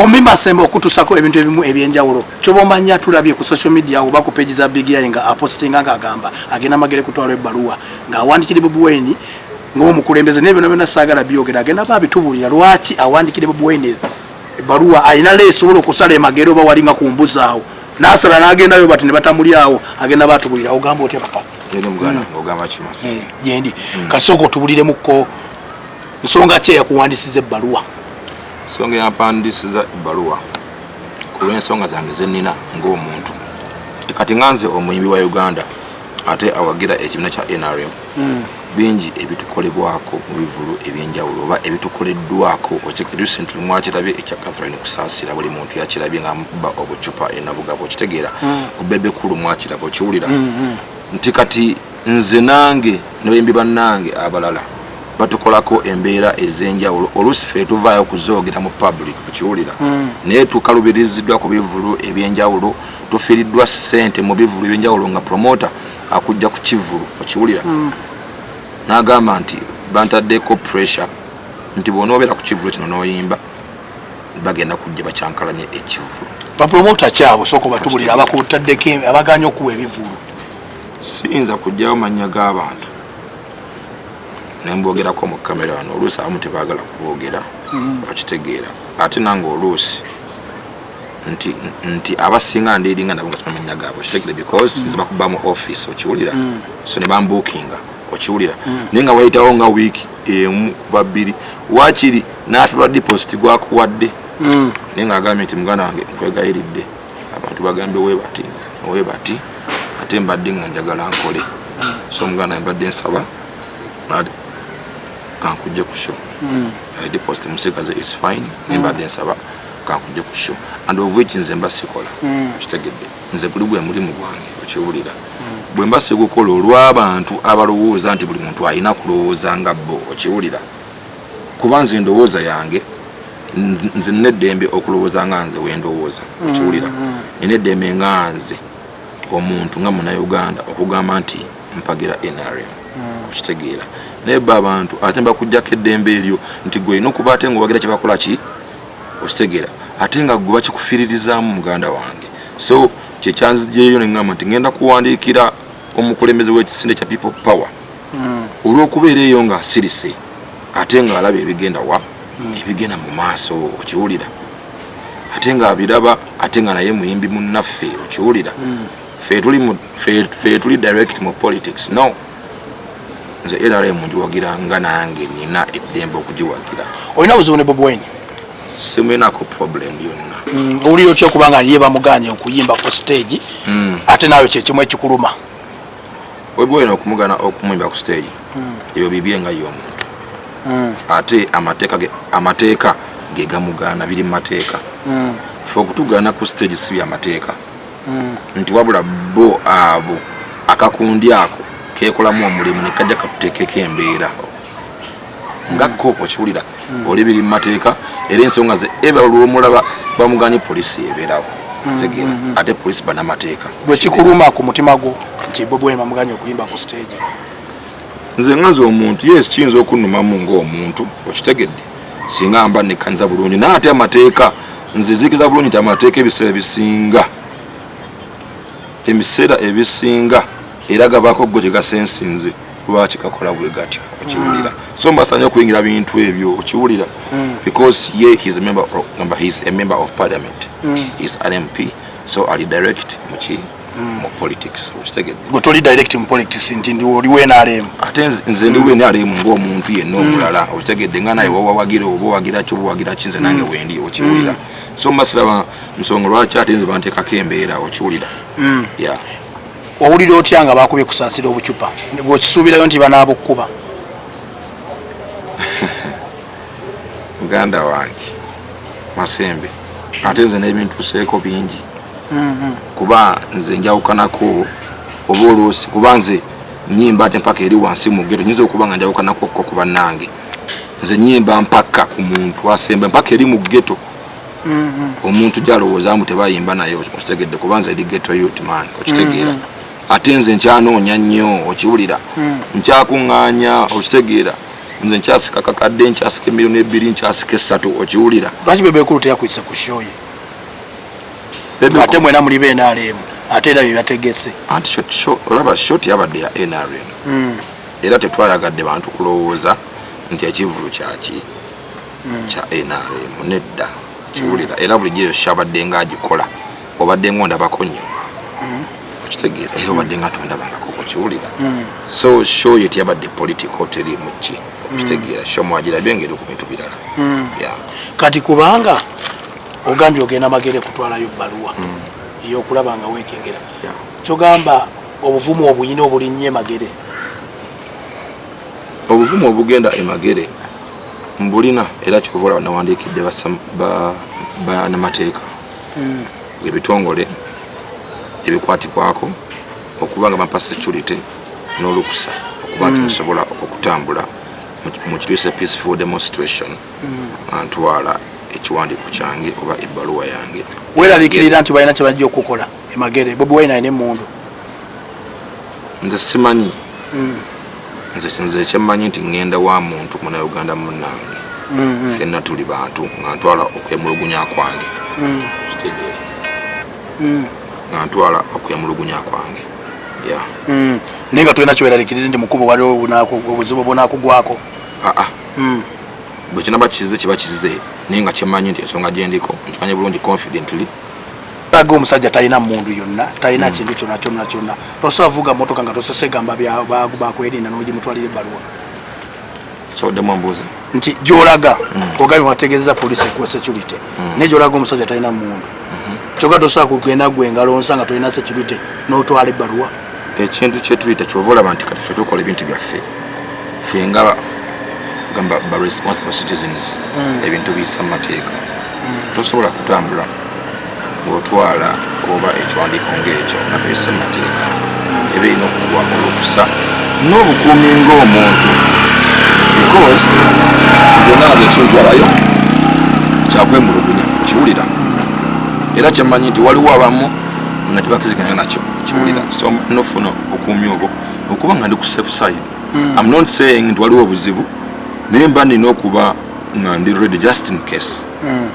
Omi Masembe okutusako ebintu ebimu ebyenjawulo kyoba omanya tulabye ku social media oba ku page za Big Eye nga apostinga nga agamba agenda magere kutwala ebbaluwa nga awandikire Bobi Wine ng'omukulembeze naye byona byona saagala byogera agenda ba bitubulira lwaki awandikire Bobi Wine ebbaluwa alina le esobola okusala emagere oba walinga ku mbuzi awo nasala nagendayo bati ne batamulyawo agenda batubulira ogamba otya papa gyendi kasooka otubuliremukko nsonga ki eyakuwandisiza ebbaluwa Ensonga eyampandiisiza ebbaluwa ku lw'ensonga zange ze nnina ng'omuntu nti kati nga nze omuyimbi wa Uganda ate awagira ekibiina kya NRM hmm. bingi ebitukolebwako mu bivulu eby'enjawulo oba ebitukoleddwako recently mwakirabye ekya Catherine Kusaasira buli muntu yakirabye nga mukuba obucupa enabugabo okitegeera hmm. ku bebe kulu mwakiraba okiwulira hmm, nti kati nze nange nebayimbi banange abalala batukolako embeera ezenjawulo olusi fe tuvaayo okuzoogera mu public kukiwulira hmm. naye tukalubiriziddwa ku bivulu ebyenjawulo tufiiriddwa sente mu bivulu ebyenjawulo nga promota akujja ku kivulu okiwulira hmm. nagamba nti bantaddeko pressure nti bwonaobeera ku kivulu kino noyimba bagenda kujja bakyankalanye ekivulu bapromota kyabo soka batubulira abakuttaddeko abaganya okuwa ebivulu siyinza kujjawo mannya g'abantu nembogerako mu kamera wano oluusi abamu tebagala kubogera mm. bakitegeera ate nange oluusi nti nti abasinga ndiringa nabo ngasima mannya gaabwe okitegere because mm. zibakuba mu office okiwulira mm. so ne bambukinga okiwulira naye nga wayitawo nga wiiki emu babiri wakiri n'afe lwa deposit gwakuwadde naye nga agambye nti muganda wange nkwegayiridde abantu bagambye webati webati ate mbadde nga njagala nkole so muganda mbadde nsaba kankujje ku show hmm. i deposit musigaze it's fine naye mbadde hmm. nsaba kankujje ku show and of which nze mba sikola hmm. kitegedde nze guli gwe mulimu gwange okiwulira bwe mba sigukola olw'abantu abalowooza nti buli muntu alina kulowooza nga bo okiwulira kuba nze endowooza yange nze nina eddembe okulowooza nga nze wendowooza okiwulira mm, mm. nina eddembe nga nze omuntu nga munauganda okugamba nti mpagira nrm mm. okitegeera naye ba abantu ate mbakujjako eddembe eryo nti gwe olina okuba ate ngaowagira kyebakola ki okitegeera ate nga gwe bakikufiririzaamu muganda wange so kyekyanzijeeyo neamba nti ngenda kuwandiikira omukulembeze wekisinde kya people power mm. olw'okubeera eyo ng'asirise ate ng'alaba ebigenda wa mm. ebigenda mu maaso okiwulira ate ng'abiraba ate nga naye muyimbi munnaffe okiwulira mm. fe tuli direct mu politics no nze nrm ngiwagira nga nange nina eddembe okugiwagira olina buzibu ne bobwine simulinako problem yonna mm, owulira otya okuba nga ye bamuganye okuyimba ku stage mm. ate naawe kyekimu ekikuluma webwena okumugana okumuyimba ku stage hmm. ebyo bibye nga ye omuntu hmm. ate amateeka gegamugaana biri mumateeka hmm. fe okutugaana ku stage si byamateeka nti wabula bo abo akakundi ako kekolamu omulimu nekajja katutekeko embeera nga mm. ko okiwulira mm. oli biri mu mateeka era ensonga ze eva lwomulaba bamuganye polisi ebeerawo mm, tegeera ate polisi banamateeka bwekikuluma ku mutima gwo nti bobwen bamuganye okuyimba ku stage nze ngaza omuntu yes kiyinza okunnumamu ngaomuntu okitegedde singa mba nekkaniza bulungi naye ate amateeka nze zikiza bulungi nti amateeka ebiseera ebisinga emiseera ebisinga era gabaako ggo gyegasensinze lwaki kakola bwe gatyo okiwulira mm. so mbasanye okuyingira bintu ebyo okiwulira mm. because ye his member of, number his a member of parliament mm. is an mp so ali direct muki mm. mu politics okitegedde gwe toli direct mu politics nti ndi oli wenarem ate nze ndi mm. wenarem ng'omuntu yenna mm. omulala mm. okitegedde nga naye wawawagira oba owagira ki obawagira ki nze nange mm. wendi okiwulira mm. so mbasiraba nsonga lwaki ate nze banteekako embeera okiwulira mm. yeah. Owulira otya nga bakubye kusaasira obucupa gwokisuubirayo nti banaabukuba? muganda wange masembe ate nze n'ebintuseeko bingi mm-hmm. kuba nze njawukanako oba oluusi kuba nze nyimba ate mpaka eri wansi mugeto nyinza okuba nga njawukanako ko ku bannange nze nyimba mpaka ku muntu asembe mpaka eri mu geto mm-hmm. omuntu gyalowooza mbu tebayimba naye okitegedde kuba nze eri geto yut man okitegeera mm-hmm. ate nze nkyanoonya nnyo okiwulira mm. nkyakuŋŋaanya okitegeera nze nkyasika kakadde nkyasika emirimu ebiri nkyasika essatu okiwulira lwaki bebekulu teyakuyisa ku shoye ate mwena muli benrm ate era byebategese anti olaba shoti yabadde ya nrm mm. era tetwayagadde bantu kulowooza nti ekivulu kyaki hmm. kya nrm nedda kiwulira era bulijjo eyo kyabadde nga agikola obadde nga ondabako nnyo hmm. okitegeera era obadde nga tondabangako okiwulira hmm. so show ye teyabadde political terimu ki okitegeera sho mwagirabye nga eri ku bintu birala kati kubanga ogambye ogenda magere kutwalayo bbaluwa eyokulaba nga wekengera kyogamba obuvumu obuyina obulinnyo emagere obuvumu obugenda emagere mbulina era kikuva olaba nawandiikidde banamateeka hmm. ebitongole ebikwatibwako okuba nga bampa security n'olukusa okuba nti hmm. nsobola okutambula mu kituyise peaceful demonstration hmm. antwala ekiwandiiko kyange oba ebbaluwa yange weeraliikirira nti balina kyebajja okukola emagere bobi wine alina emundu nze simanyi mm. nze kyemmanyi nti ŋŋenda wa muntu munauganda munnange mm-hmm. fenna tuli bantu nga ntwala okwemulugunya kwange mm. mm. nga ntwala okwemulugunya kwange naye nga tolina kyoeralikirire nti mukubo waliwo obuzibu obunakugwako aa ah, ah. bwekinaba kizize kiba kizize naye nga kyemmanyi nti ensonga gyendiko nkimanyi bulungi confidently aga omusajja talina mundu yonna talina hmm. kintu kyona kyona kyona tosobola vuga motoka nga tosose gamba bakwerinda nogimutwalira ebbaluwa nti gyolaga hmm. ogabi wategezeza polisi ekuwa security hmm. naye gyolaga omusajja talina mundu kyoga tosobola kugenda gwe ngalo nsa nga tolina security notwala ebbaluwa ekintu kyetuyita kyova olaba nti kati fe tukola ebintu byaffe fe nga gamba ba responsible citizens mm. ebintu biyisa mu mateeka mm. tosobola kutambula ng'otwala oba ekiwandiiko ng'ekyo nga tuyisa mu mateeka mm. eba erina okuwa olukusa n'obukuumi ng'omuntu because zonna nze ekintwalayo kyakwemulugunya okiwulira era kyemanyi nti waliwo abamu nga tebakiziganya nakyo kiwulira mm. so nofuna obukuumi obwo okuba nga ndi ku safe side mm. am not saying nti waliwo obuzibu naye mba nina okuba nga ndi ready just in case mm.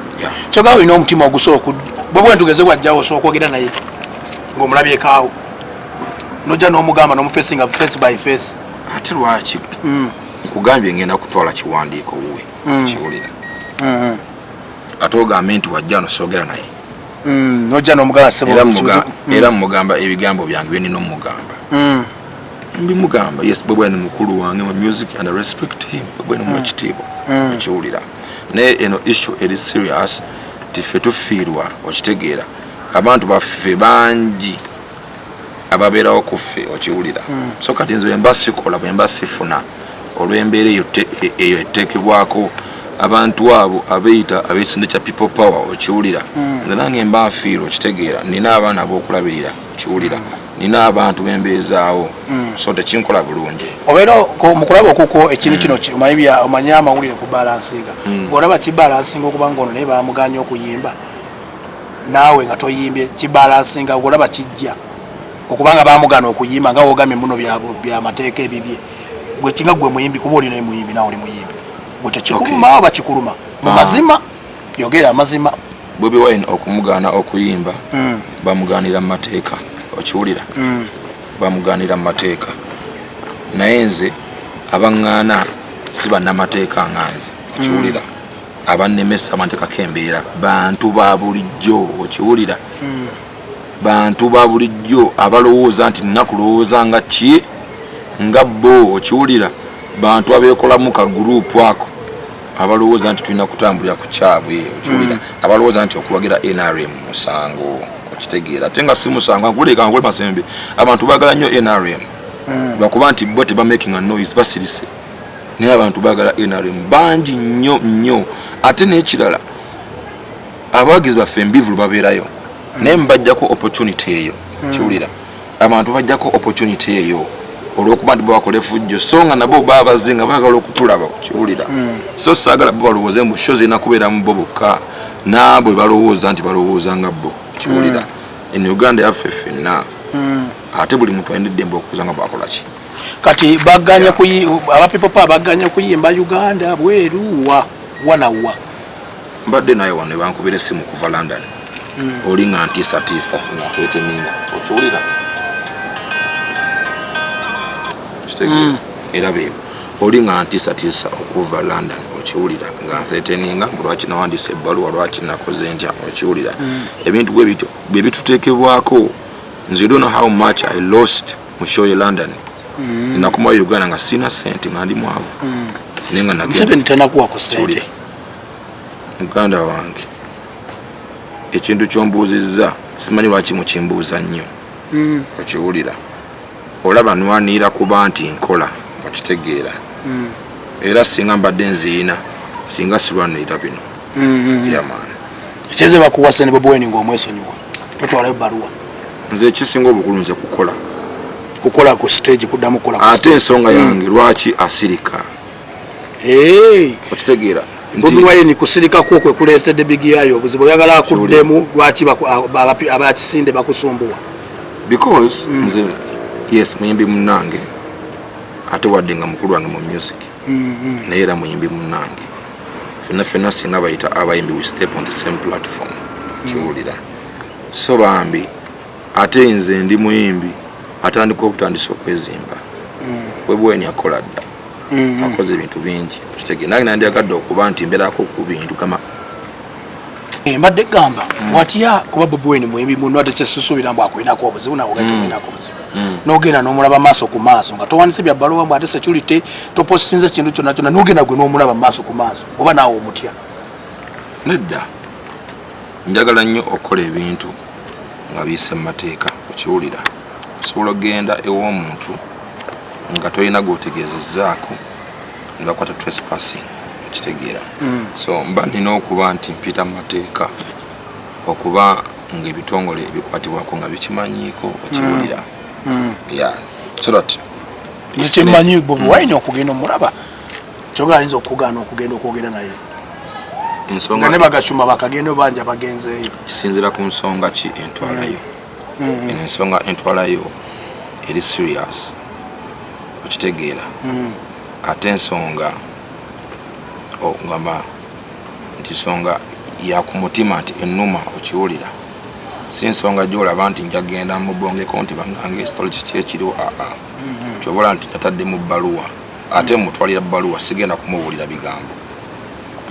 kyogaa olina omutima ogusoola oku bwebwe ntugeze wajjawo osobola okwogera naye ngaomulabyekaawo nojja n'omugamba n'omufesi nga face by face ate lwaki mm. nkugambye ngenda kutwala kiwandiiko wuwe mm. kiwulira mm-hmm. ate ogambe nti wajja nosoogera naye mm, nojja nomugamba sebo era mugamba mm. era mugamba ebigambo byange byo nino mugamba mm. mbi mugamba yes bwe bwene mukulu wange mu music and I respect him bwe bwene mu kitibo kiwulira naye eno issue eri serious tife tufiirwa okitegeera abantu baffe bangi ababeerawo kuffe okiwulira hmm. so kati nze bwemba sikola bwemba sifuna olw'embeera eyo eyo eteekebwako abantu abo abeyita abekisinde kya people power okiwulira hmm. nze nange mba nfiire okitegeera nina abaana abokulabirira okiwulira hmm. nina abantu bembeezaawo so tekinkola bulungi obeera mukulaba okukwo ekintu kino omanye amawulire ku balansinga ngaolaba kibalansinga okubanga ono naye bamuganya okuyimba naawe nga toyimbye kibalansinga olaba kijja okubanga bamugana okuyimba nga wogamye muno byamateeka ebibye gwe kinga gwe muyimbi kuba olina emuyimbi nawe oli muyimbi gwe tekikuluma oba kikuluma mu ah. mazima yogera amazima bobi wine okumugaana okuyimba hmm. bamugaanira mu mateeka okiwulira hmm. bamugaanira mu mateeka naye nze abaŋŋaana si bannamateeka nga nze okiwulira hmm. abannemesa bantekako embeera bantu ba bulijjo okiwulira hmm. bantu ba bulijjo abalowooza nti nina kulowooza nga ki nga bo okiwulira bantu abeekolamu ka guruupu ako abalowooza nti tulina kutambulira ku kyabwe okiwulira hmm. abalowooza nti okuwagira nrm musango okitegeera ate nga si musango ankuleka nkole masembe abantu baagala nnyo nrm hmm. lwakuba nti bo tebamakinga noise basirise naye abantu bagala nrm bangi nnyo nnyo ate nekirala abawagizi baffe embivulu babeerayo naye mubajjako opportunity eyo hmm. kiwulira abantu bajjako opportunity eyo olwokuba nti babakola efujjo so nga nabo babaze nga bagala okutulaba kiwulira hmm. so saagala bo balowooze mbu sho zirina kubeeramu bo bokka naabwe balowooza nti balowooza nga bo kiwulira hmm. en uganda yaffe ffenna ate buli muntu alina eddembe okuza nga bakolaki kati baganye kuyi aba people pa baganye kuyimba Uganda bweru wa wana wa mbadde naye wano bankubira simu kuva London mm. oli nga ntisa tisa na twete minga okiwulira mm. era bebo oli nga ntisa tisa okuva London okiwulira nga ntheteninga lwaki nawandisa ebbaluwa lwaki nakoze ntya okiwulira mm. ebintu bwe bityo bwe bitutekebwako nze don't know how much I lost mm. mu show ye london mm. nakuma uganda nga sina sente nga ndi mwavu mm. naye nga namuseveni tanakuwa ku sente muganda wange ekintu kyombuuzizza simanyi lwaki mukimbuuza nnyo mm. okiwulira olaba nwanira kuba nti nkola okitegeera mm. era singa mbadde nziina singa silwanirira bino mm-hmm. yeah man kyeze bakuwa sene bobo weni ngo mwesonyiwa totwala yo baruwa nze kisinga obukulu nze kukola kukola ku stage kudamu kola ate ensonga mm. yange lwaki asirika hey okitegeera bobi wine kusirika kwo kwe kuleetedde bigi yayo obuzibu oyagala akuddemu lwaki abakisinde bakusumbuwa because mm. nze yes muyimbi munange ate wadde nga mukulu wange mu music mm-hmm. naye era muyimbi munange fenna fenna singa bayita abayimbi we step on the same platform kiwulira so bambi ate nze ndi muyimbi atandika obutandisa okwezimba mm. webweni akola dda mm-hmm. akoze ebintu bingi kitege nange nandyagadde okuba nti mberako ku bintu kama Eh, mbadde gamba mm. watya kuba bobi wine muyimbi muno ate kyesusuubira mbu akulinako obuzibu nawe ogenda mm. okulinako obuzibu mm. nogenda nomulaba maaso ku maaso nga towanise bya baluwa mbu ate security toposinze kintu kyonna kyonna nogenda gwe nomulaba maaso ku maaso oba naawe omutya nedda njagala nnyo okukola ebintu nga biyise mu mateeka okiwulira osobola okugenda ew'omuntu nga tolina gwotegeezezaako nebakwata trespassing okitegeera mm. so mba nina okuba nti mpita mu mateeka okuba ngaebitongole ebikwatibwako nga bikimanyiiko okiwulira mm. mm. ya so that kyemanyi bobi mm. wine okugenda omulaba kyoga ayinza okugaana okugenda okwogera naye nga ne bagacuma bakagenda obanja bagenzeeyo kisinzira ku nsonga ki entwalayo mm. mm. eno ensonga entwalayo eri serious okitegeera mm. ate ensonga ogamba nti nsonga yakumutima nti enuma okiwulira si nsonga gyolaba nti njagenda mubongeko nti banange ekitalo kiki ekiriwo aa ah, ah. mm-hmm. kyobola nti natadde mu bbaluwa ate mutwalira bbaluwa sigenda kumubuulira bigambo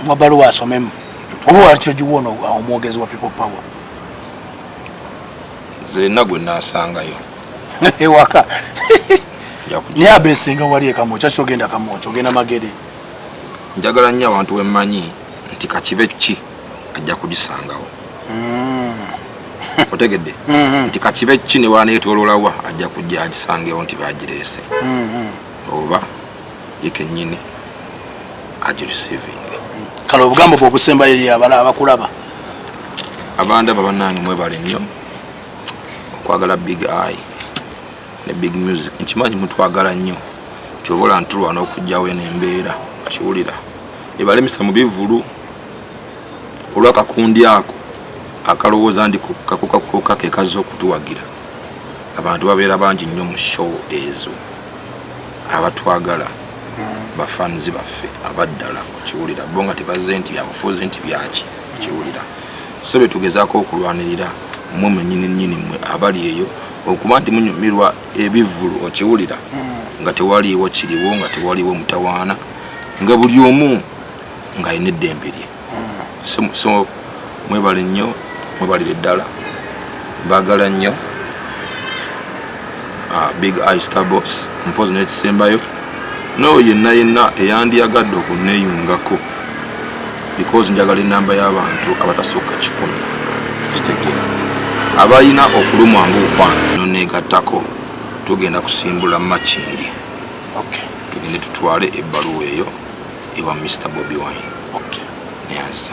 mubaluwa asomemu oba wakyo giwona omwogezi wa people power zenna gwe nasangayo ewaka naye abesinga wali ekamu kyaki ogenda kamu oti ogenda magere njagala nnyo abantu bemmanyi nti kakibe ki ajja kugisangawo hmm. otegedde hmm. nti kakibe ki newanetololawa ajja kujja agisangewo nti bagireese hmm, oba ye kenyini agireceiving kale obugambo bwe obusembayo eri abala abakulaba abandaba banange mwebale nnyo okwagala big eye ne big music nkimanyi mutwagala nnyo kyova ola ntulwana okugjawo eno embeera okiwulira ebalemesa mu bivulu olwakakundi ako akalowooza ndi kakukakuka kekazza okutuwagira abantu babeera bangi nnyo mu show ezo abatwagala bafanzi baffe abaddala okiwulira bo nga tebaze nti byabufuzi nti byaki okiwulira so betugezaako okulwanirira mwe mwenyini nyini mwe abali eyo okuba nti munyumirwa ebivulu okiwulira hmm. nga tewaliiwo kiriwo nga tewaliwo mutawaana nga buli omu ng'alina eddembe lye so, so mwebale nnyo mwebalire ddala bagala nnyo uh, big eye starbos mpozi nekisembayo nooyo yenna yenna eyandiyagadde okuneyungako because njagala enamba y'abantu abatasukka kikumi kitegeera abalina okulumwa ngaokwano noneegattako tugenda kusimbula makindi okay. tugende tutwale ebbaluwa eyo ewa Mister Bobi Wine. Okay. Neyanzisa.